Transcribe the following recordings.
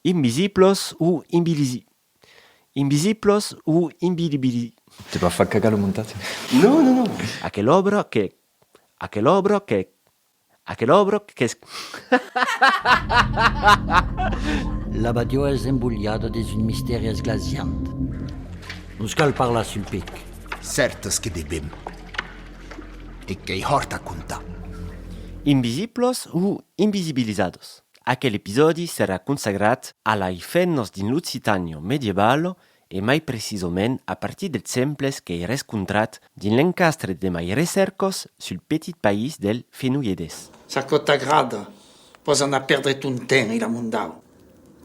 Invisiblos o inbilisi. Invisiblos o inbilibili. Te va far cagar lo montatge. Non, non, non. Aquel òbro que. Aquel òbro que. Aquel òbro qu'es. La badiò es embolhada dins un mistèri esglasiant. Nos cal parlar sul pic. Cèrtes que bevèm. E qu'ei hòrt a contar. Invisiblos o invisibilizados. Aquel episòdi serà consagrat a lai fennos dins l'Occitanio medievalo e mai precisament a partir dels semples qu'ei rescontrat dins l'encastre de mai recercos sul petit país del Fenolledés. Ça quò t'agrada, pòs anar perdre ton temps e l'amondau.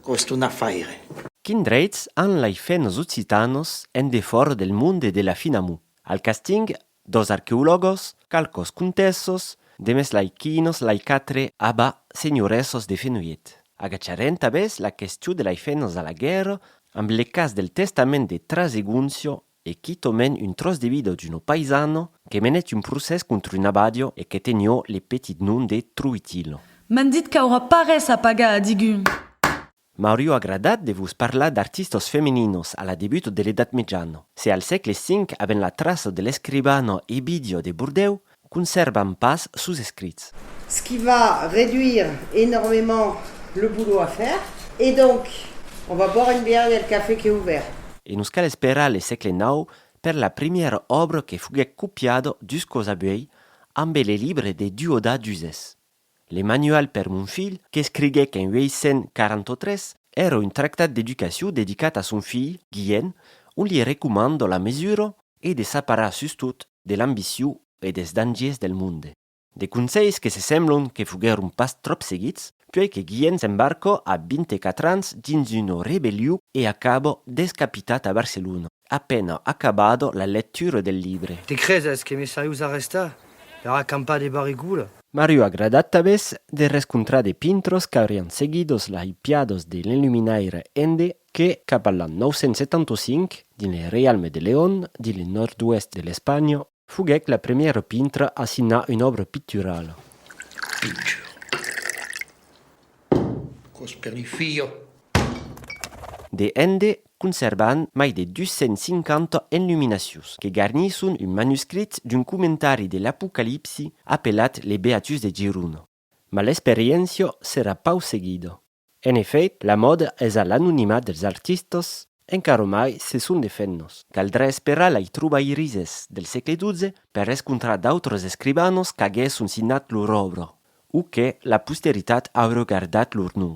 Quò es ton afaire. Quin dreits an lai fennos occitanos en defòra del monde de la Finamou? Al casting Dos arqueologos, qualcos contessos, de mes lai quinos lai quatre aba senhoressos de Fenolhet. Agacharem tabès la questiu de lai fenhos a la guèrra amb le cas del testament de Traseguncio e quitòmen un tròç de vida d'uno paisano que menèt un procès contra un abadio e que tenió le petit nom de Troitilo. M'an dit qu'aurà pas res a pagar a digun. M'aurió agradat de vos parlar d'artistos femininos a la debut de l'Edat Mitjana. Se al sègle V avèn la traça de l'escribana Ebidio de Bordèu, consèrvam pas sos escrits. Ce qui va réduire énormément le boulot à faire et donc on va boire une bière, il y a le café qui est ouvert. E nos cal esperar le sègle nau per la primièra òbra que foguèc copiada dus còps abuèi, ambe le libre de Duodat d'Uzès. Le Manual per mon filh, qu'escriguèc en 843, èra un tractat d'educacion dedicat a son filh, Guien, ont li recomanda la mesura e de s'aparar sustot de l'ambicion e des dangiers del monde. De conselhs que se semblon que foguèron pas tròp seguits, puèi que Guien s'embarca a 24 ans dins una rebellion e acaba descapitat a Barcelona. A pena acabado la lectura del libre. Te creses que me saius arrestar per acampar de barrigula? M'ariu agradat tabes de rescontrar de pintros qu'aurián seguidos las ipiados de l'enluminaire ende que, cap a l'an 975, dins le reialme de León, dins le nòrd-oèst de l'Espanha, Foguèc la premièra pintra a signar una òbra picturala. De hende conservan mai de 250 enluminacions que garnisson un manuscrit d'un comentari de l'Apocalipsi apelat Les Beatus de Girona. Ma l'experiéncia serà pauc seguida. En efèit, la mòda es a l'anonimat dels artistas, encara mai se son de femnas. Caldrà esperar lai trobairisses del sègle XII per escontrar d'autres escrivanas qu'aguèsson signat lor òbra, o que la posteritat aurà gardat lor nom.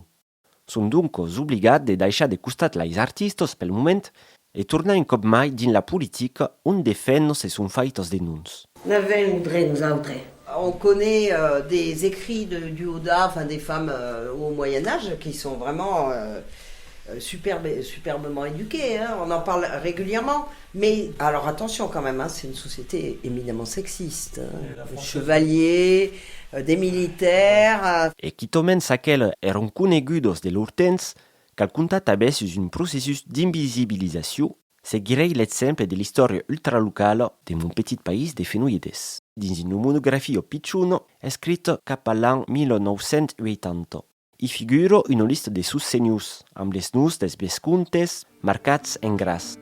Son doncas obligat de daishar de costat lais artistas pel moment, E tornar un còp mai dins la politica ont de fèns se son faitas de noms. N'avèm un drech nosautres. On conet des ecrits de Duoda, enfin des femmes au Moyen Age qui sont vraiment superbes, superbement éduquées, hein, on en parle régulièrement, mais alors attention quand même, hein, c'est une société éminemment sexiste, des chevaliers, des militaires. E quitament s'aqueles èran conegudos de lor temps, Cal comptar tanben sus un processus d'invisibilizacion seguirei l'exemple de l'istòria ultralocala de Mon petit país de Fenoides, dins una monografia pichona escrita cap a l'an 1980. I figura una lista de sos senhors, amb les noms dels vescomtes marcats en gras.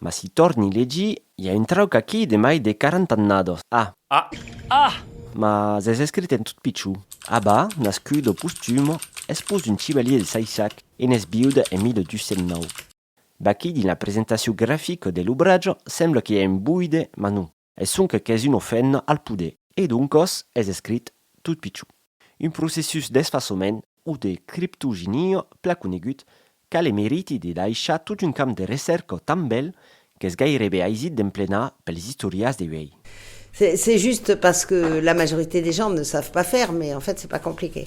Mas si tòrni legir, i a un trauc aquí de mai de quaranta annados, a. A. Ah! Mas es escrit en tot pichon. Abba, nascudo postumo, espós d'un chivalier de Saissac, e n'es viuda en 1209. Vaquí dins la presentacion grafica de l'obrajo, sembla que i a un buide, mas non. Es sonque qu'es un ofenda al poder. E doncos es escrit tot pichon. Un processus d'esfasament o de criptoginia plan conegut qu'a le meriti de daishar tot un camp de recèrca tan bèl qu'es gairebe aisit d'emplenar pels istorias de uèi. C'est juste parce que la majorité des gens ne savent pas faire, mais en fait c'est pas compliqué.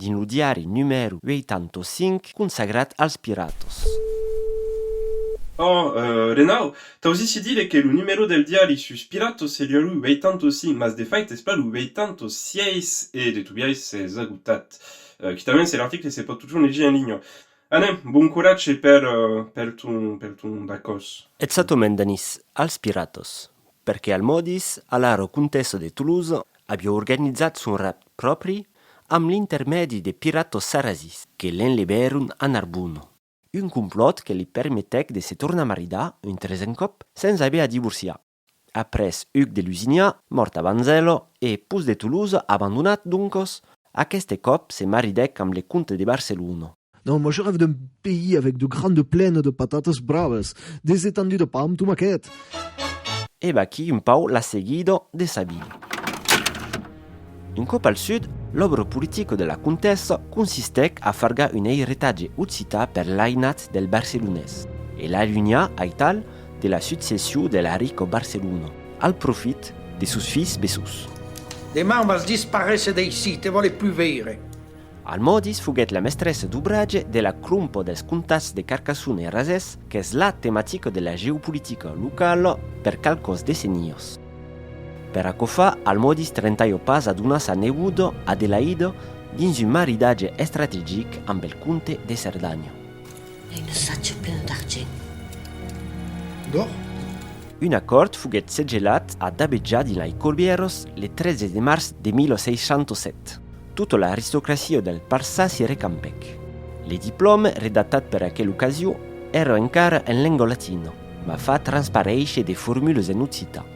Dins lo diari numèro 85 consagrat als piratas. Òh, Renau, t'ausissi dire que lo numèro del diari sus piratas seriá lo 85, mas de fait es pas lo 86 e de tobiais s'es agotat. Quitament se l'article se pòt totjorn legir en linha. Anèm, bon coratge per ton bacòs. Exactament, Danís, als piratas. Perque al modis, alaro comtessa de Toulouse avió organizat son rapt pròpri amb l'intermèdi de piratos sarrazis que l'enlevèron a Narbona. Un complòt que li permetèc de se tornar maridar un tresen còp sens aver a divorciar. Après Hugues de Lusignan, mòrt a Banzelo, e pus de Toulouse abandonat doncos, aqueste còp se maridèc amb le comte de Barcelona. Non, moi je rêve d'un pays avec de grandes plaines de patates braves, des étendues de pam tomaquet. E vaquí un pauc la seguida de Sabine. Un còp al sud, l'òbra politica de la comtessa consistèc a fargar un eiretatge occità per l'ainats del barcelonés e l'alunhar aital de la succession de la rica Barcelona al profit de sos filhs bessons. Deman vas disparéser d'aicí, te vòle plus veire. Almòdis foguèt la mestressa d'obratge de la crompa dels comtats de Carcassona e Razès qu'es la tematica de la geopolitica locala per qualques decennias. Per aquò fa, Almòdis trentalha pas a donar sa neboda, Adelaida, dins un maridatge estrategic amb el comte de Cerdanha. Ai un assatge plen d'argent. D'òr? Un acòrd foguèt segellat a Dabeja dins Laicorbièras le 13 de març de 1607. Tota l'aristocracia del Parçà s'i recampèc. Le diplòme, redactat per aquela ocasion, èra encara en lenga latina, mas fa transparéisher de formules en occitan.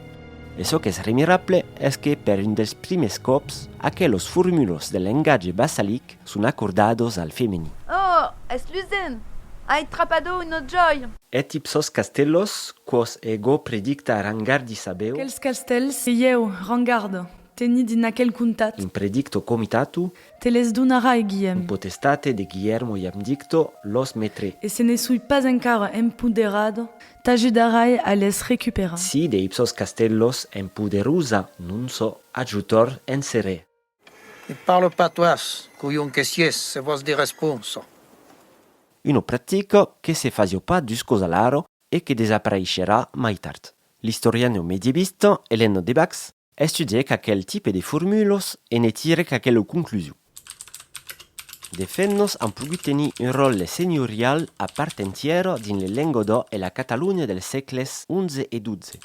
E çò qu'es remirable es que, per un dels prumèrs còps, aquelas formulas del lengatge bassalic son acordadas al femení. Oh! es Luzen! Ai trapado un ojòl! E tip sos castellos, quò's ègo predicta a Rangardi sabèu. Quels castells, se ieu, Rangardo, Tenir dins aquel comtat. In predicto comitatu. Te les donarai, Guillem. In potestate de Guillermo iam dicto los metre. E se ne soi pas encara empoderado. T'ajudarai a les recuperar. Si de ipsos castellos en poderusa non sò ajutor en serè. Ne parlo patois, colhon que sies, se vòs de responsa. Uno practico que se fasio pas dus cos alaro e que desapareisherà mai tard. L'istoriano medievista Eleno de Bax Estudièc aquel tipe de formulos e ne tirèc aquela conclusion. De fet nos an pogut tenir un ròtle senhorial a part entièra dins le Lengodò e la Catalonha dels sègles xi e xii.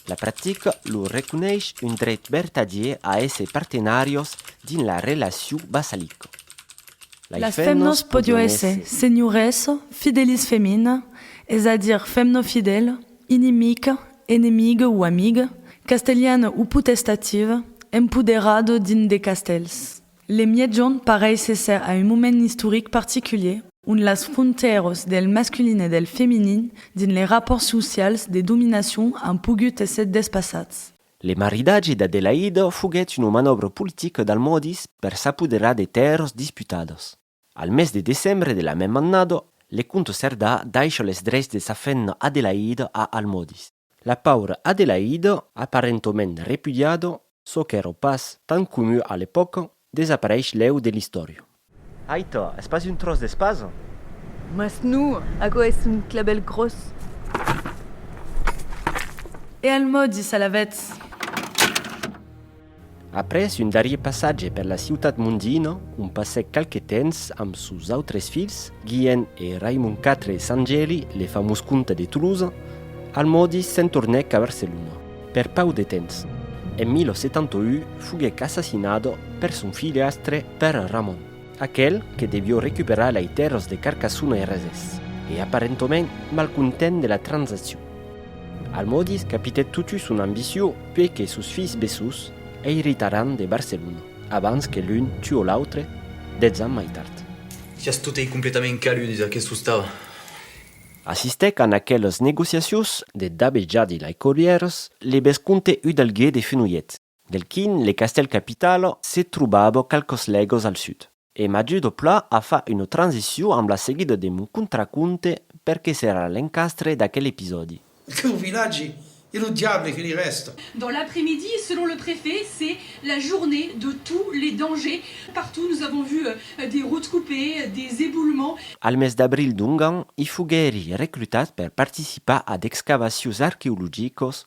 La practica lor reconeis un dreit vertadier a èsser partenàrios dins la relacion vassalica. Las femnas podion èsser senhoressa fidelis femina, es a dire femna fidèla, Inimic, enemic o amic, castelhan o potestativ, empoderat dins de castèls. Le miègjorn pareis èsser a un moment istoric particulier ont las frontèras del masculin e del feminin dins les rapòrts socials de dominacion an pogut èsser despassats. Le maridatge d'Adelaida foguèt una manòbra politica d'Almòdis per s'apoderar de tèrras disputadas. Al mes de decembre de la mèma annada, le comte Cerdà daisha les dreits de sa fenha Adelaïde a Almòdis. La paura Adelaïde, aparentament repudiada, çò qu'èra pas tan comu a l'epòca, desapareish lèu de l'istòria. Aita, es pas un tròç d'espasa? Mas non, aquò es un clabèl gròs. E Almòdis alavetz! Après un darrier passatge per la ciutat mondina, on passèc qualque temps amb sos autres filhs, Guilhen e Raimon iv e Sant Geli, le famós comte de Tolosa. Al maudís se'n tornèc a Barcelona, per pauc de temps. En 1071 foguèc assassinat per son filhastre Pèr Ramon. Aquel que devió recuperar lei tèrras de Carcassona e Resés, e aparentoment malcontent de la transaccion. Almòdis capitèt totu son ambicion puei que sos filhs bessós eiritaràn de Barcelona abans que l'un tuò l'autre dètz ans mai tard. Siás totei completament caludis, aquests ostals! Assistèc an aquelas negociacions de Dabejadi lei Collièrs, le bescomte Udalguer de Fenolhet. Del quin le castèl capital se trobava qualques lègas al sud. E m'ajude au pla a far una transicion amb la seguida de mon contraconte per que serà l'encastre d'aquel episòdi. Aqueu vilatge e lo diable que li rèsta. Dans l'après-midi, selon le préfet, c'est la journée de tous les dangers. Partout nous avons vu des routes coupées, des éboulements. Al mes d'abril d'ongan, i foguèri reclutat per participar a d'excavacions arqueologicas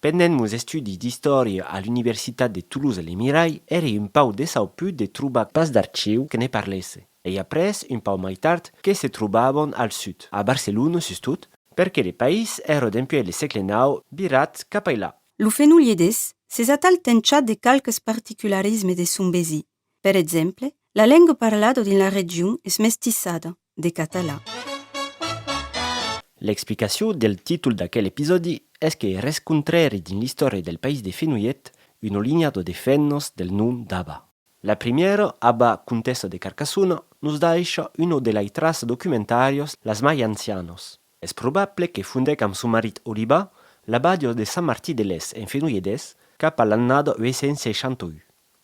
Pendent meus estudis d'istòria a l'universitat de Toulouse-Lemirai èri un pauc desauput de trobar pas d'archiu que ne parlèsse, ei après un pauc mai tard que se trobàvon al sud, a Barcelona sustot, perque le país èra dempuèi le sègle nau virat capailà. Lo Fenolhedés s'es atal tenchàt de qualques particularismes de son besir, Per exemple, la lenga parlada dins la region es mestissada, de catalan. L'explicacion del títol d'aquel episòdi es que res contrèri dins l'istòria del país de Fenolhet, una linha de defenhos del nom d'Aba. La primièra, Aba, comtessa de Carcassona, nos daisha una de lai traça documentàrias las mai ancianas. Es probable que fondèc amb son marit Oliba l'abadiós de Sant Martí de Lès en Fenolhedés cap a l'annada 861.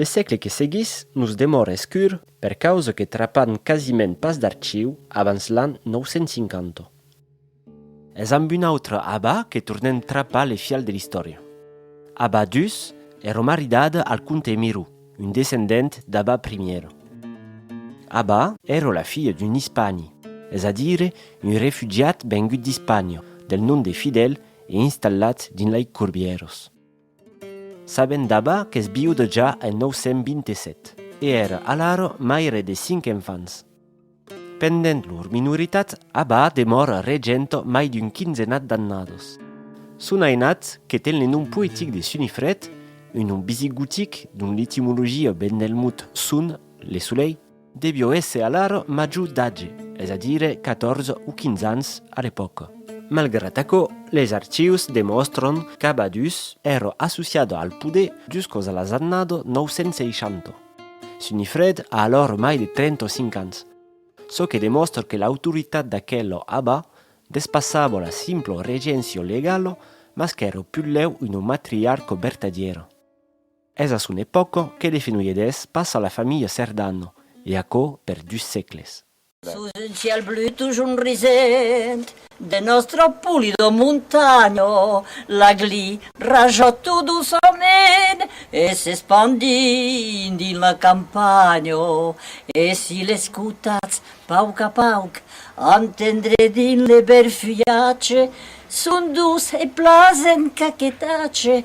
Le sègle que seguís nos demòra escur per causa que trapan quasiment pas d'archiu abans l'an 950. Es amb un autre abà que tornem trapar le fial de l'istòria. Abà d'Us, ero maridad al comte Miró, un descendent d'Abà Primiero. Abà ero la filha d'un ispani, es a dire un refugiat vengut d'Ispània, del nom de Fidèl e installat dins lei Corbièros. Sabent daba qu'es viude ja en 927. E ère alaro maire de cinc enfants. Pendent lor minoritat aba demor regent mai d'un quinzenat d'annados. Son ainat, que ten le nom poetic de Sunifred, un nom bisigotic dont l'etimologia ven del mot sun, le solelh, Devió èsser alara major d'atge, es a dire 14 o 15 ans a l'epòca. Malgrat aquò, les archius demòstran qu'Abadus èra associada al poder juscos a las annada 960. Sunifred a alara mai de 35 ans, çò que demòstra que l'autoritat d'aquela aba despassava la simpla regencia legala mas qu'èra putlèu una matriarca vertadièra. Es a son epòca que de Fenolhedés passa a la familha Cerdano, e aquò per dus sègles. Sus un cièl blu tujorn risent, de nòstra polida montanha, l'agli raja tot doçament e s'espandint dins la campanha. E si l'escotatz pauc a pauc, entendrè dins le bèl fulhatge son doç e plasent caquetatge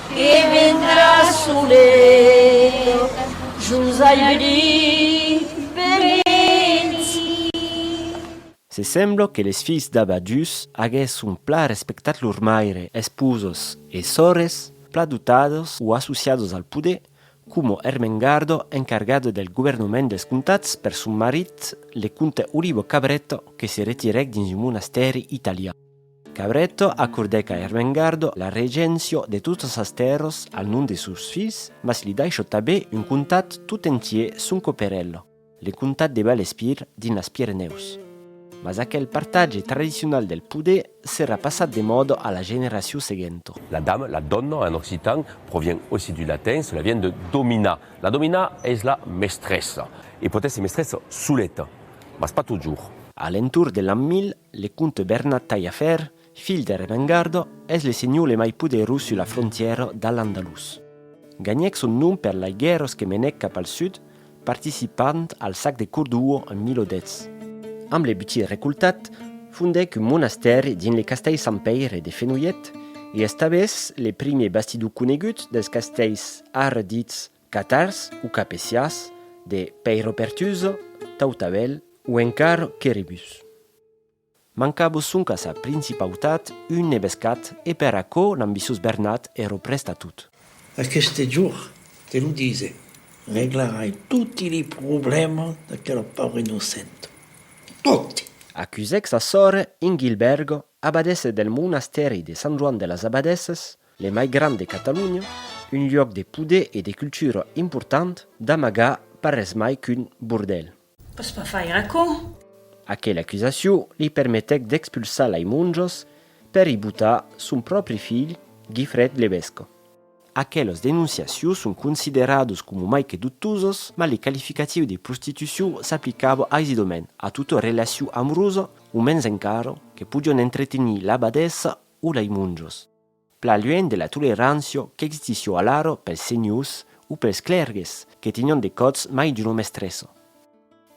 E vendrà solet jos ai brit beneti. Se sembla que les filhs d'Abba Djus aguèsson plan respectat lor maire, esposos e sòrres, plan dotados o associados al poder, coma Ermengardo, encargado del governament dels comtats per son marit, le comte Olivo Cabretto, que se retirèc dins un monastèri italian. Cabretto acordèc a Ermengardo la regencio de totas sas tèrras al nom de sos filhs, mas li daishò tabé un comtat tot entier son coperello, le comtat de Valespir dins las Pirenèus. Mas aquel partatge tradicional del poder serà passat de mòda a la generacion seguenta. La dame, la donna en occitan, provien aussi du latin, cela vien de domina. La domina es la mestressa e pòt èsser mestressa soleta, mas pas totjorn. A l'entorn de l'an 1000, Le comte Bernat Taillafèrre, filh d'Eremengarda, es le senhor le mai poderós sus la frontièra d'Al-Andalús. Ganhèc son nom per lai guèrras que menèc cap al sud, participant al sac de Cordua en 1010. Amb le butin recoltat, fondèc un monastèri dins le castèl Sant Pèire de Fenolhet e establèc le primièr bastidor conegut dels castèls ara dits Catars o capeciás de Pèiropertuso, Tautabèl o encara Queribus. Mancabo sonc a sa principautat un nevescat e per aquò l'ambiciós Bernat èro prèst a tot. Aqueste jorn, te lo dise, reglarai toti li problèmas d'aquela paura innocenta. Toti! Acusèc sa sòrre Ingilbèrgo, abadessa del monastèri de Sant Joan de las Abadèsses, Le mai grand de Catalonha, un luòc de poder e de cultura important, d'amagar pas res mai qu'un bordèl. Pòs pas faire aquò! Aquela acusacion li permetèc d'expulsar lei monjos per i botar son pròpri filh Guifrèd Lebesco. Aquelas denonciacions son consideradas coma mai que dubtosas, mas le qualificatiu de prostitucion s'aplicava aisidament a tota relacion amorosa, o mens encara, que podián entretenir l'abadessa o lei monjos. Plan luènh de la tolerància qu'existissió alara pels senhors o pels clèrgues que tenián de còths mai d'una mestressa.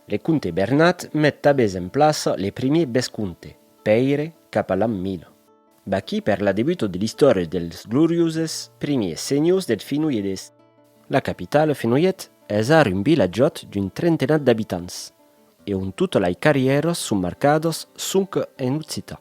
Le comte Bernat met tabès en plaça le primier vescomte, Pèire, cap a l'an 1000. Vaquí per la debuta de l'istòria dels glorioses primiers senhors deth Fenoiedés. La capitala, Fenoiet, es ara un vilatjòt d'un trentenat d'abitants e on tota lei carrièras son marcadas sonque en occitan.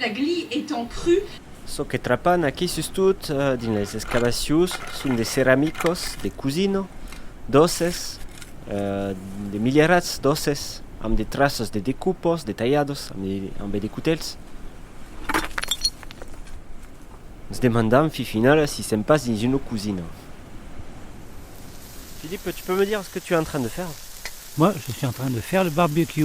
La gli etant cru. Çò que trapan aquí sustot dins las excavacions son de ceramicos de cosina, d'òsses, de milierats d'òsses amb de traços de decupos, de talhados ambe de cotèls. Nos demandam fi finala si sèm pas dins una cosina. Philippe, tu peux me dire ce que tu es en train de faire? Moi, je suis en train de faire le barbecue.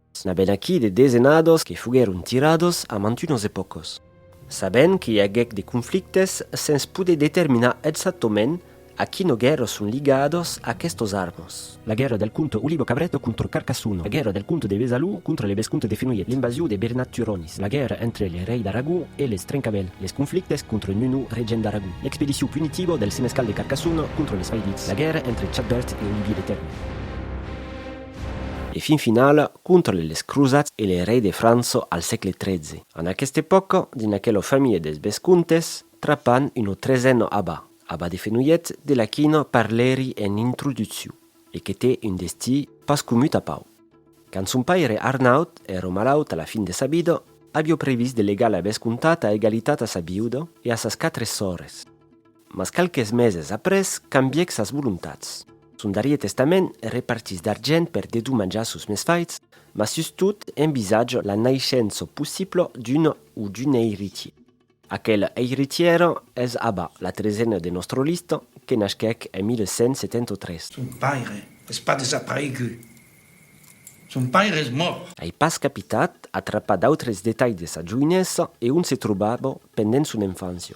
N'aben aquí de desenados que foguèron tirados a mantunos epòcos. Sabent que i aguèc de conflictes sens poder determinar exactament a quino guèrra son ligados aquestos armos. La guèrra del comte Olivo Cabreto contra Carcassono, la guèrra del comte de Besalú contra le vescomte de Fenolhet, l'invasion de Bernat Turonis, la guèrra entre le rei d'Aragó e les Trencavèl, les conflictes contra Nuno, regent d'Aragó, l'expedicion punitiva del senescal de Carcassono contra les Failits, la guèrra entre Chadbert e Olivier de Tèrme. E fin final, contra le les crosats e le rei de França al sègle tretze. En aquesta epòca, dins aquela familha dels Bescòntes, trapan una tresena aba, aba de Fenolhet, de la quina parlèri en introducciu, e que té un destí pas comut a Pau. Quand son paire Arnaut èra malaut a la fin de sa vida, aviá previst de legar la Bescòntat a egalitat a sa viuda e a sas quatre sòrres. Mas qualques meses après cambièc sas volontats. Son darrier testament repartís d'argent per dedomanjar sos mesfaites, mas sustot envisatge la naishença possibla d'un o d'una eiritier. Aquel eiritier es Abba, la tresena de nòstra lista, que nasquèc en 1173. Son paire es pas desaparegut. Son paire es mòrt. Ai pas capitat, atrapar d'autres detalhs de sa joinessa e ont se trobava pendent son enfància.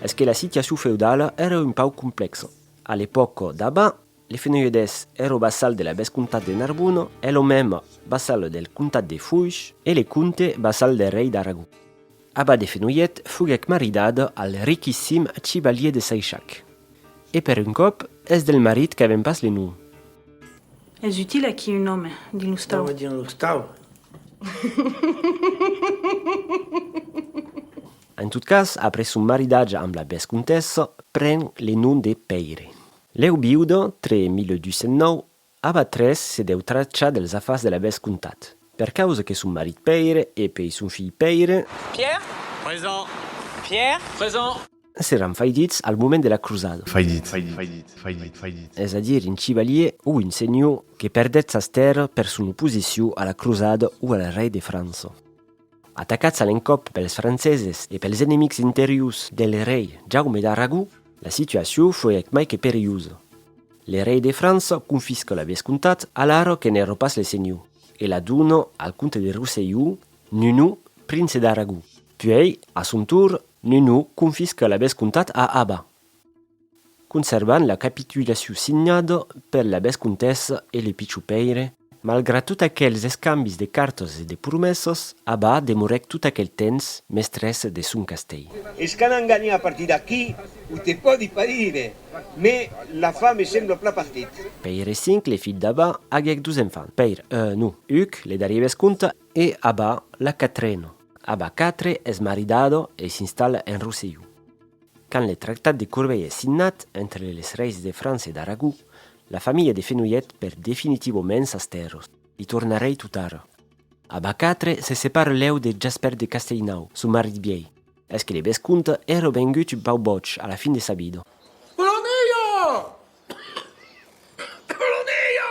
Es que la situacion feudala èra un pauc complèxa. A l'epòca d'Aba, Les Fenoiedès èra vassal de la vescomtat de Narbona, e lo mèma vassal del comtat de Foish, e le comte vassal del rei d'Aragó. Abba de Fenolhet, foguèc maridada al riquissim chivalier de Saishac. E per un còp, es del marit qu'avèm pas le nom. Es util aquí un òme dins l'ostau. Òme dins l'ostau? En tot cas, après son maridatge amb la vescontessa, pren le nom de Pèire. Lèu viuda, tre 1209, Ava tres se deu trachar dels afars de la bes comtat, per causa que son marit Pèire e pei son filh Pèire. Pierre? Present. Pierre? Present. S'èran faidits al moment de la crusada. Faidits. Faidits. Faidits. Faidits. Es a dire un chivalier o un senhor que perdèt sas tèrras per son oposicion a la crusada o al rei de França. Atacats a l'encòp pels franceses e pels enemics interiors de l'erei Jaume d'Aragó, la situacion foguèc mai que perilhosa. L'erei de França confisca la vescomtat alara que n'èra pas le senhor e la dona al comte de Rosselló, Nuno, prince d'Aragó. Puèi, a son torn, Nuno confisca la vescomtat a Aba, Conservant la capitulacion signada per la vescontessa e le pichon Pèire, malgrat tot aquels escambis de cartas e de promessas, Aba demorèc tot aquel temps mestressa deth sòn castèl. Es qu'an enganhat a partir d'aquí, o te pòdi pas dire, mès la fa me sembla plan partit. Pèire V, le filh d'Aba, aguèc dos enfants, Pèire I, non, Huc, le darrier vesconte, e Aba, la quatrena. Aba iv es maridada e s'installa en Rosselló. Quand le tractat de Corbeil es signat entre les reis de França e d'Aragó, la familha de Fenolhet perd definitivament sas tèrras. Li tornarei totara. Abacatre se separa lèu de Jaspèrt de Castellnau, son marit vièlh. Es que le vescomte èra vengut un pauc bòig a la fin de sa vida. Polonia! Polonia!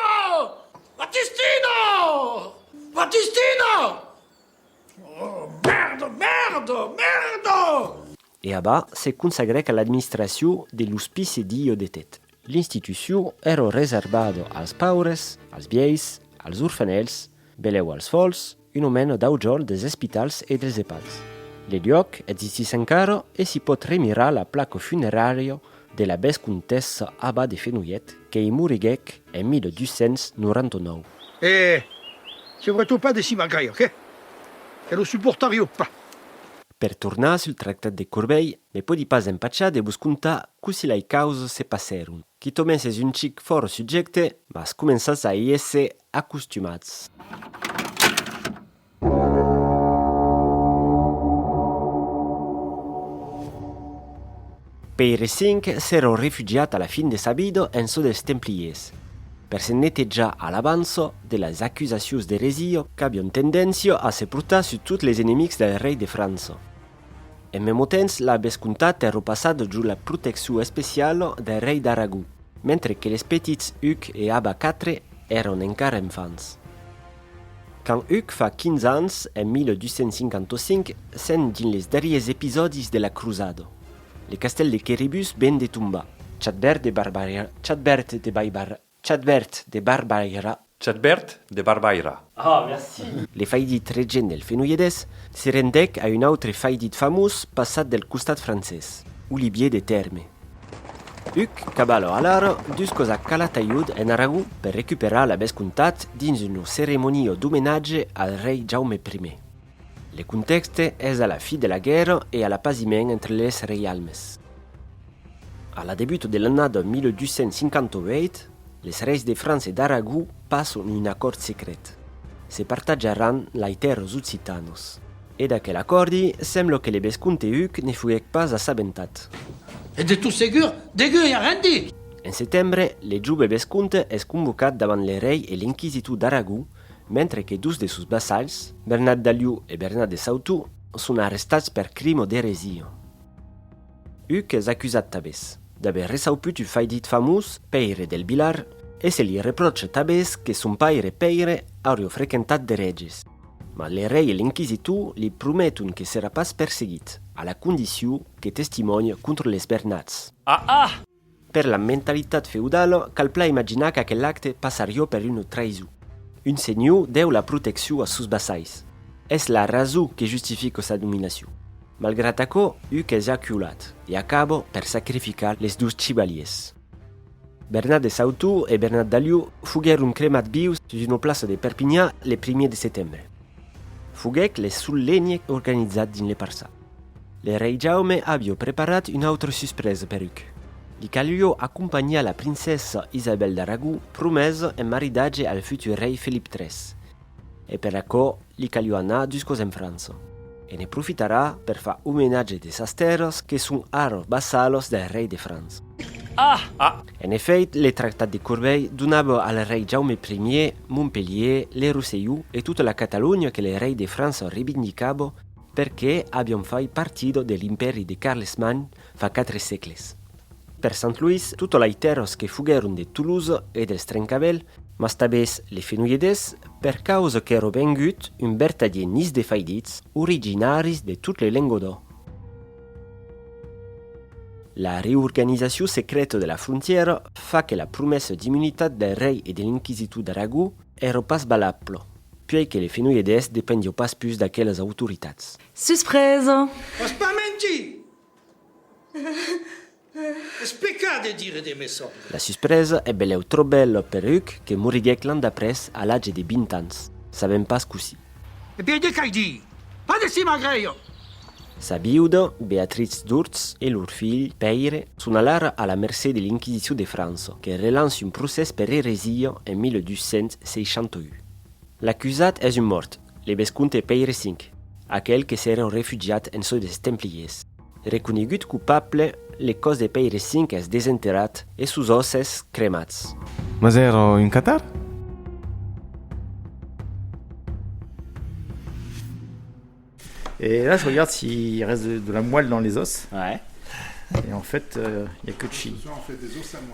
Batistina! Batistina! Mèrda! Mèrda! Mèrda! E abà se consagrèc a l'administracion de l'ospice d'i Iodetet. L'institucion èrò reservada als paures, als vièis, als orfanèls, belèu als fòls, un omena dau jorn des espitals e dels epads. Le luòc existís encara e s'i pòt remirar la placa funerària de la vescomtessa Aba de Fenolhet que'i moriguèc en 1299. E se vretò pas de cima gaire, que lo suportarió pas. Per tornar sul tractat de Corbeil, me pòdi pas empachar de vos contar cossí lai causas se passèron. Quitomens es un chic fòrt subjècte, mas començatz a i èsser acostumats. Pèire V s'èra refugiat a la fin de sa vida en çò dels templiers, per se netejar a l'avança de las acusacions d'eresia qu'avián tendéncia a se portar sus tots les enemics del rei de França. En mèmo temps la vescomtat èra passada jos la proteccion especiala del rei d'Aragó, mentre que les petits Huc e Aba iv èran encara enfants. Quand Huc fa 15 ans, en 1255, sent dins les darriers episòdis de la crusada. Le castèl de Quéribus ven de tombar. Chadbert de Barbaira, Chadbert de Baibarra, Chadbert de Barbaira. Chadbert de Barbaira. Ah, merci! Le faidit regent del Fenolledés se rendèc a un autre faidit famós passat del costat francés, Olivier de Tèrme. Huc Caballo Alara dus cos a Calataiud en Aragon per recuperar la vescomtat dins un ceremonio d'omenatge al rei Jaume I. Le contèxte es a la fi de la guèrra e a l'apasiment entre les reialmes. A la debut de l'annada 1258, les reis de França e d'Aragó passon un acòrd secret, se partatjaràn lai tèrras occitanas. E d'aquel acòrdi, semblo que le vescomte Huc ne fuguec pas assabentat. E de tot segur, degué i arrendi! En setembre, le jove vescomte es convocat davant le rei e l'inquisitor d'Aragó, mentre que dos de sos vassalhs, Bernat d'Alió e Bernat de Sautó, son arrestats per crim o d'eresia. Huc es acusat tabés d'aver reçauput un faidit famós, Pèire del Vilar, e se li repròche tabés que son paire Pèire aurio frequentat d'ereges. Mas le rei e l'inquisitor li prometon que serà pas perseguit, a la condicion que testimònhe contra les Bernats. Ah! Ah! Per la mentalitat feudala, cal plan imaginar qu'aquel acte passarió per una traïson. Un senhor deu la proteccion a sos vassais. Es la rason que justifica sa dominacion. Malgrat aquò, Huc es aculat e acaba per sacrificar les dos chivaliers. Bernat de Sautour e Bernat d'Aliu foguèron cremats vius sus una plaça de Perpinha le primièr de setembre. Foguèc le sol lenhe organizat dins le parçat. Le rei Jaume avió preparat una autra suspresa per Huc. Li calió acompanhar la princessa Isabèl d'Aragó, promesa en maridatge al futur rei Felip iii. E per aquò li calió anar juscos en França. E ne profitarà per far omenatge de sas tèrras que son ara vassalos del rei de França. Ah! En efèit, le tractat de Corbeil donava al rei Jaume Ier Montpelhier, le Rosselló e tota la Catalonha que le rei de França revindicava perqué avián fai partida de l'Impèri de Carlesmagn fa quatre sègles. Per Sant Luís, tota lei tèrras que foguèron de Tolosa e dels Trencavèl, mas tabés les Fenoiedés, per causa qu'èro vengut un bertadier nis de faidits, originaris de tot le Lengodò. La reorganizacion secreta de la frontièra fa que la promessa d'immunitat del rei e de l'inquisitor d'Aragó èro pas valabla, puèi que les Fenoiedés dependió pas pus d'aquelas autoritats. Suspresa! Es pas mentir! Es pecat de dire de me sòrre. La suspresa e belèu tròp bèla per Huc que moriguèc l'an d'après a l'atge de vint ans, sabèm pas cossí. E be de qu'ai dir, pas de si magrèia! Sa viuda, Beatritz d'Urtz, e lor filh, Pèire, son alara a la mercé de l'Inquisicion de França, que relança un procès per eresia en 1268. L'acusat es un mòrt, Le vescomte Pèire V, aquel que s'èra refugiat en çò des Templiers. Reconegut coupable, le còs de Pèire V es desenterrat e sos òsses cremats. Mas èra un catar? E là, je regarde s'il reste de la moelle dans les os. Ouais. Et en fait, il n'y a que chi.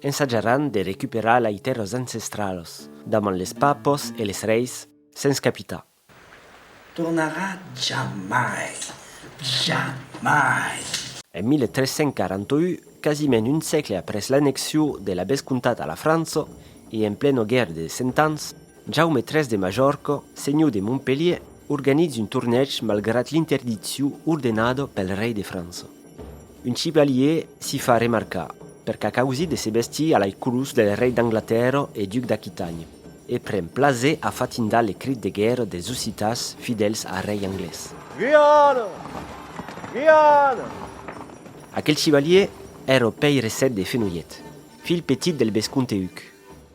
Ensajaràn de recuperar lai tèrras ancestralas damant les papos e les reis sens capitar. Tornarà jamai, jamai! En 1341, quasiment un sègle après l'annexion de la vescomtat a la França e en plena guèrra de Cent Ans, Jaume iii de Majorca, senhor de Montpelhier, organitz un tornèg malgrat l'interdiccion ordenada pel rei de França. Un civalier s'i fa remarcar per qu'a causit de se vestir a lai colors del rei d'Anglatèrra e duc d'Aquitanha, e pren plaser a fatindar le crit de guèrra des occitans fidèls a rei anglés. Guiana! Guiana! Aquel civalier èra Pèire Sèt de Fenolhet, filh petit del vescomte Huc.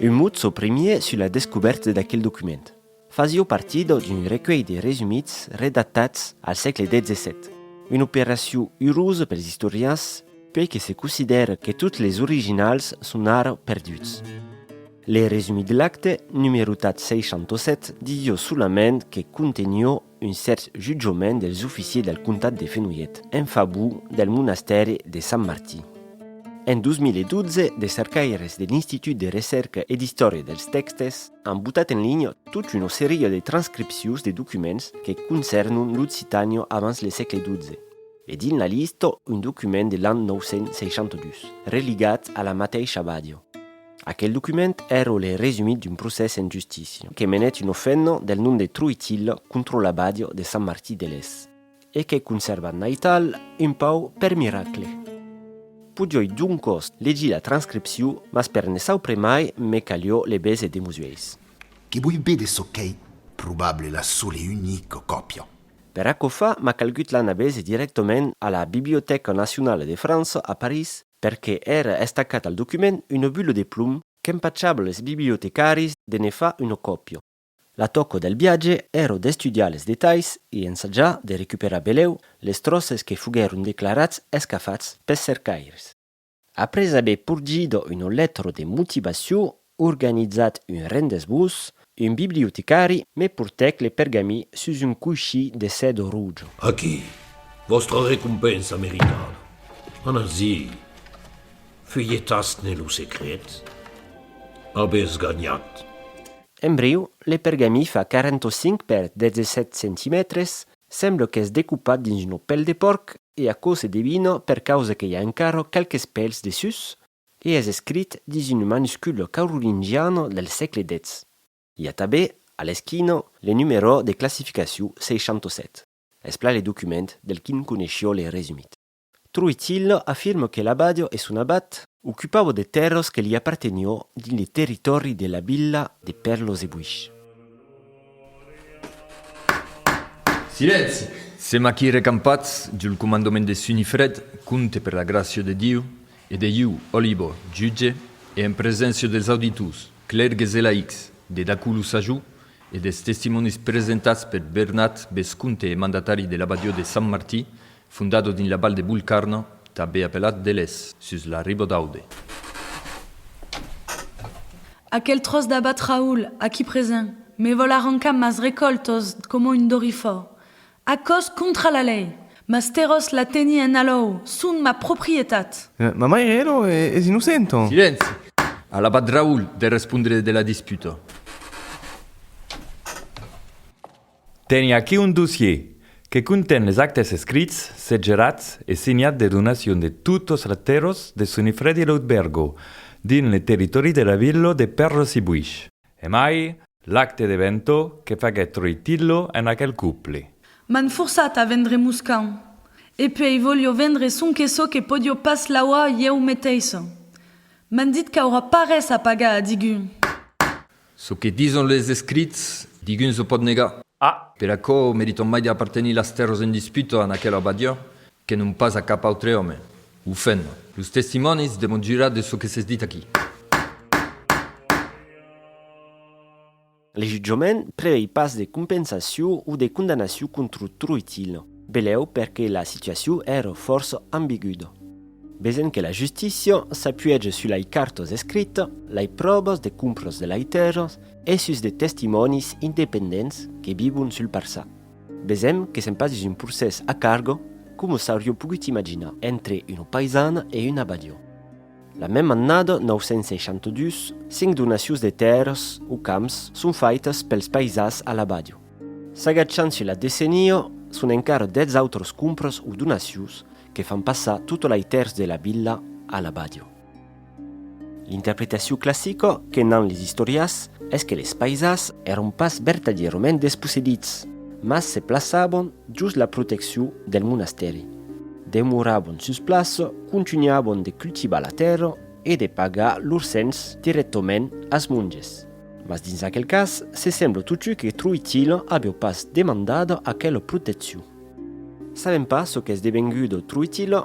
Un mot çò primièr sus la descobèrta d'aquel document. Fasió partida d'un recuelh de resumits redactats al sègle xvii. Una operacion urosa pels istorians puèi que se considèra que tots les originals son ara perduts. Le resumit lacte, numerotat 67, didó solament que contenió un cèrt jutjament dels oficiers del comtat de Fenolhet en favor del monastèri de Sant Martí. En 2012, de cercaires de l'Institut de Recèrca e d'Istòria dels Tèxtes an botat en linha tot una seria de transcripcions de documents que concèrnon l'Occitània abans le sègle XII, e dins la lista un document de l'an 962 religat a la mateisha abadiá. Aquel document èro le resumit d'un procès en justícia que menèt un ofènno del nom de Troitilh contra l'abadiò de Sant Martí de Les. E qu'è conservat n'aital un pauc per miracle. Podioi doncòs legir la transcripcion, mas per ne saupre mai me calió le bese de mos uèis. Que voi vede çò qu'ei probable la sola e unica còpia. Per aquò fa m'a calgut l'ana bese dirèctament a la Bibliotèca Nacionala de França a París perque èra estacat al document una bula de plom qu'empachava les bibliotecàris de ne far una còpia. La tòca del viatge èra d'estudiar les detalhs e ensajar de recuperar belèu les tròces que foguèron declarats escafats pes cercaires. Après aver porgida una letra de motivacion Organizat un rendez-vous, un bibliotecari me portèc le pergamí sus un coishí de sèdo rojo. Aquí, vòstra recompensa meritada. Anatz-i, fuelhetatz-ne lo secret. Avètz ganhat. Embriu, le pergamí fa 45 per 17 centimètres, sembla qu'es decupat dins una pèl de pòrc e aquò se devina per causa que i a encara qualques pèls de sus, E es escrit dins un manusculo caurolingiano del sègle xix. I a tabé, a l'esquina, le numerò de classificaciu 67. Es plan le document del quin coneishió le resumit. Troitillo afirma que l'abadio e son abat. Ocupavo de tèrras que li apartenió dins le territòri de la vila de Perlos-de-Buish. Silenci! Sèm aquí recampats, diu lo comandament de Sunifred, compte per la gràcia de Diu, E de iu, Olibo, jutge, e en preséncia dels auditors, clèrgues e laics, de d'aquò lo sajor e dels testimonis presentats per Bernat, vescomte e mandatari de l'abadió de Sant Martí, fondado dins la Val de Bulcarna, tanbé apelat de Les, sus la riba d'Aude. Aquel tròç d'abat Raül, aquí present, me vòl arrancar mas recòlh tòs coma un dorifòr. Aquò's contra la lei, mas terò's la tenir en alòu, son ma proprietat! Ma maire, elo, es innocent, ònh! Silenci! Alabat Raül de respondre de la disputa. Teni aquí un dossier, que conten les actes escrits, segelats e signats de donacion de totes les terres de Sonifredi-Loutbergo, dins le territòri de la vila de Perles-i-Buish. Emai, l'acte de Vento que faguèt Troitillo en aquel couple. M'an forçat a vendre Moscau. E puèi vòlio vendre sonque çò que pòdio pas lauar ieu meteissa. M'an dit qu'aurà pas res a pagar a digun. Çò que dison les escrits, digun se pòt negar. A. Per aquò, meritam mai de apartenir las tèrras en disputa a aquela abadia que non pas a cap autre òme. Ho fèm. Los testimònis demon jurar de çò que s'es dit aquí. Le jutjament prevei pas de compensacion o de condamnacion contra Troitil, benlèu perque la situacion ère fòrça ambiguda. Besent que la justícia s'apuege sus lei cartas escritas, lei pròvas de compras de lei tèrras e sus de testimònis independents que vivon sul parçat. Vesèm que se'n pas dins un procès a cargo coma s'aurió pogut imaginar entre una paisana e un abadió. La mèma annada 962, cinc donacions de tèrras o camps son faitas pels paisans a l'abadió. S'agachant sus la decenia, son encara dètz autras compras o donacions que fan passar tota l'aitérs de la vila a l'abadió. L'interpretacion classica que n'an les istòrias es que les paisas èron pas vertadièrament despossedits, mas se plaçavan jos la proteccion del monastèri, demoravan sus plaça, contunhavan de cultivar la tèrra e de pagar lor cens dirèctament als monges. Mas dins aquel cas, se sembla totjut que Troitila aviá pas demandada aquela proteccion. Sabèm pas çò qu'es devenguda Troitila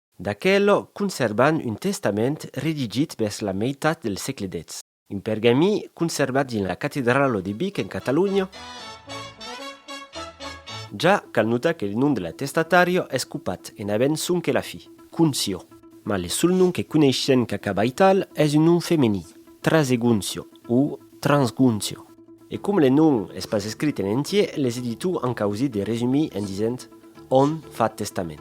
D'aquelo conservan un testament redigit vers la meitat del sègle xix. Un pergamí conservat dins la catedralo de Vic en Catalonha. Ja cal notar que le nom de la testatario es copat en avent sonque la fi, Concio. Mas le sol nom que coneishien qu'acaba ital es un nom femení, Trasegoncio o Transgoncio. E com le nom es pas escrit en entier, les editors an causit de resumir en disent Òm fa testament.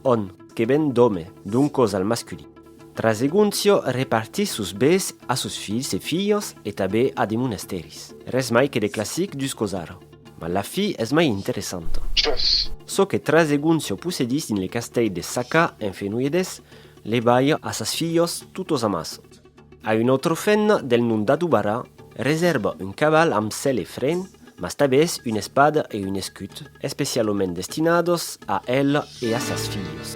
Òm, que ven d'òme, donc cos al masculin. Traseguncio repartís sos bés a sos filhs e filhas e tabé a de monastèris. Res mai que de classic dus cos ara. Mas la fi es mai interessanta. Jas. Çò que Traseguncio possedís dins le castèit de Sacà, en Fenoiedés, le balha a sas filhas totos amassa. A un autre fenna del nom d'Adubara, reserba un caval amb sèl e fren, mas tabès una espada e un escut, especialament destinados a el e a sas filhas.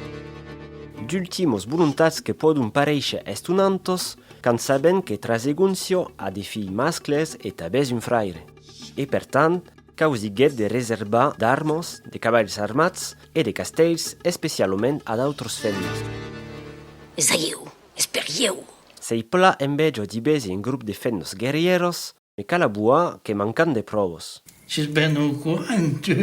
D'ultimas volontats que pòdon paréisher estonantas quand sabèn que Trasegoncio a de filhs mascles e tabès un fraire, e per tant causiguèt de reserbar d'armas, de cavalhs armats e de castèls especialament a d'autras fennas. Saieu es per ieu! Sei pla envejo d'i besi en grup de fent nos guerrieros, me cal abuar que mancan de provos. Ses ben au courant, tu!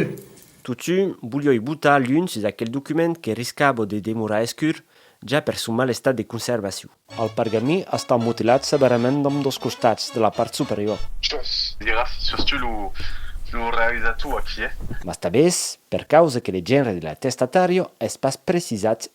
Totun, bolhoi botar l'un sus aquel document que riscabo de demorar escur, ja per son mal estat de conservacion. Al pergamí està motilat severament d'ambdós costats de la part superior. Jos! Diràs, sos tu lo realizator aquiu? Mas tanbés, per causa que le genre de l'atestatario es pas precisat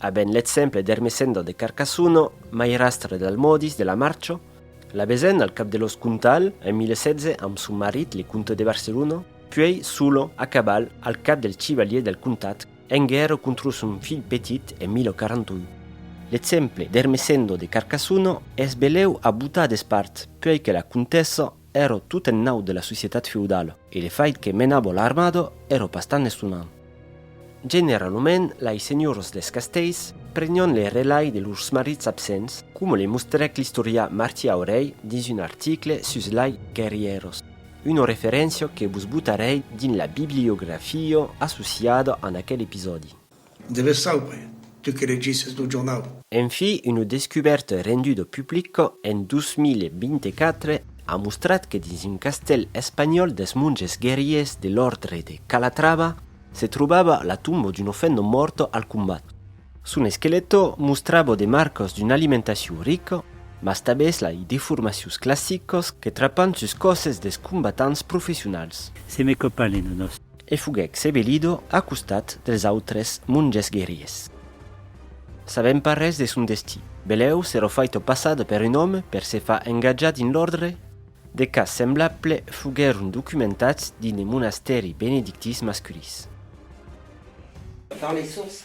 A ben l'exemple d'Ermesenda de Carcassono, mairastre d'Almòdis de la Marcho, l'avezèn al cap de los Contal en 1016 amb son marit le comte de Barcelona, puèi Solon a caval al cap dels chivaliers del comtat en guèrra contra son filh petit en 1041. L'exemple d'Ermesendo de Carcassono es belèu a botar d'espart puèi que la comtessa Ero tot en naut de la societat feudala. E le fait que menabo l'armada ero pas tan estonant. Generalament lai senhors des castells prenion le relai de lors marits absents, coma le mostrèc l'istorià Martí Aurell dins un article sus lai guerrièros, una referéncia que vos botarèi dins la bibliografia associada en aquel episòdi. Deves saupre, tu que legisses lo jornau. En fi, una descubèrta renduda au public en 2024 a mostrat que dins un castèl espanhòl dels monges guerriers de l'òrdre de Calatrava se trobava la tomba d'un ofendo mòrt al combat. Son esquelèto mostrava de marcas d'una alimentacion rica, mas tabès lai deformacions classicas que trapan sus còsses dels combatants professionals. Se me copalent o nos. E foguèc sebelido a costat dels autres monges guerriers. Sabèm pas res de son destí. Belèu s'èra faito passar per un òme per se far engatjar dins l'òrdre. De cas semblable foguèron documentats dins de monastèri benedictins masculins. Dans les sources,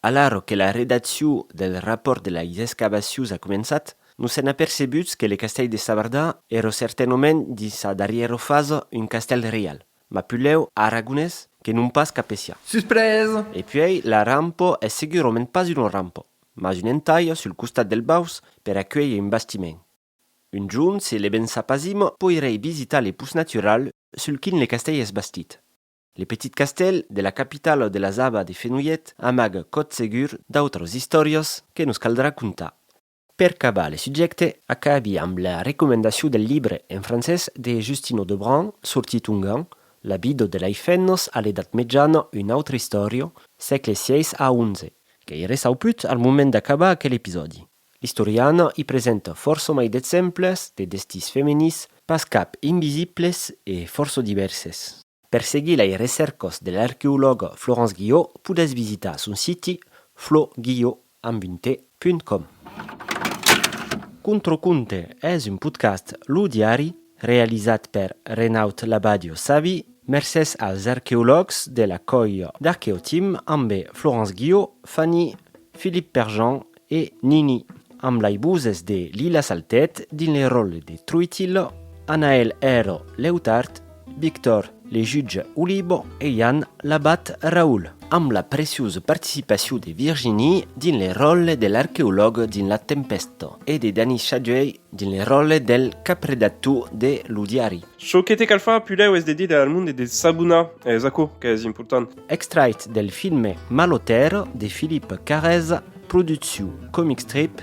Alara que la redacciu del rapòrt de lais escavacius a començat, nos sèn apercebuts que le castèl de Savardà èra certainament dins sa darrièra fasa un castèl reial, mas pulèu aragonés que non pas capecià. Suspresa! E puèi la rampa es segurament pas una rampa, mas un entaia sul costat del baus per acuélher un bastiment. Un jorn se le ben sapasima poirèi visitar le pus natural sul quin le castèl es bastit. Le petit castèl de la capitala de las Abas de Fenolhet amaga còth segur d'autras istòrias que nos caldrà contar. Per cabar le subjècte, acabi amb la recomendacion del libre en francés de Justino Debrun sortit ongan, La vida de lei femnas a l'Edat Mejana, una autra istòria, sègle vi a xi, que i ressau put al moment d'acabar aquel episòdi. L'istoriana i presenta fòrça mai d'exemples de destins femenins, pas cap invisibles e fòrça divèrses. Per seguir lei recèrcas de l'arqueològa Florence Guillot podètz visitar son siti flo-guillot amb un te, punt com. Contraconte es un podcast Lo Diari realizat per Renaud Labadio Savi mercés als arqueològs de la còia d'Arqueotim ambe Florence Guillot, Fanny, Philippe Perjean E Nini, amb lei buzes de Lila Saltet dins le ròle de Truitillo, Anaèl Hèro Leutard, Victor le jutge Olibo e Jan l'abat Raül, amb la preciosa participacion de Virginie dins le ròle de l'arqueològ dins La Tempesta e de Dani Chadjuey dins le ròle del capredactor de Lo Diari. Çò que te cal far pulèu es de dire al monde de s'abonar, es aquò qu'es important. Extrait del filme Malotèro de Philippe Carrèza. Producciu Comicstrip,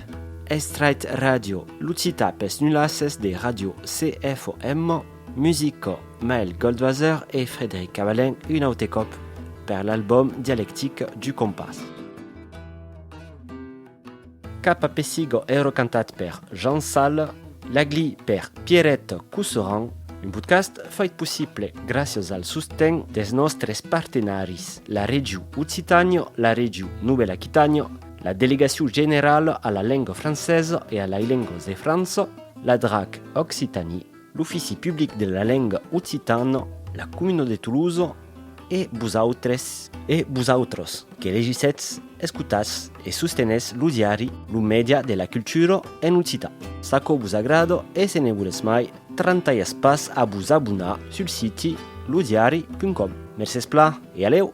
Estraight Radio, Lucita pes nulasses de Radio CFOM, Musica Maël Goldwasser e Frédéric Cavalin un aute còp per l'album Dialectique du Compas. Cap a Pessiga èra cantat per Jean Sal. Lagli per Pierrette Cousseran, un podcast fait possible gràcias al sosten dels nòstres partenaris, la Regiu Occitània, la Regiu Novèla Aquitània, la Delegacion Generala a la Lenga Francesa e a lai Lengas de França, la drac Occitanie, l'Ofici Public de la Lenga Occitana, la Comuna de Tolosa, E vosautres? E vosautros, que legissetz, escotatz e sostenètz lo diari, lo mèdia de la cultura en occitan? S'aquò vos agrada e se ne volètz mai, trantalhatz pas a vos abonar sul siti lodiari.com. Mercés pla e alèu!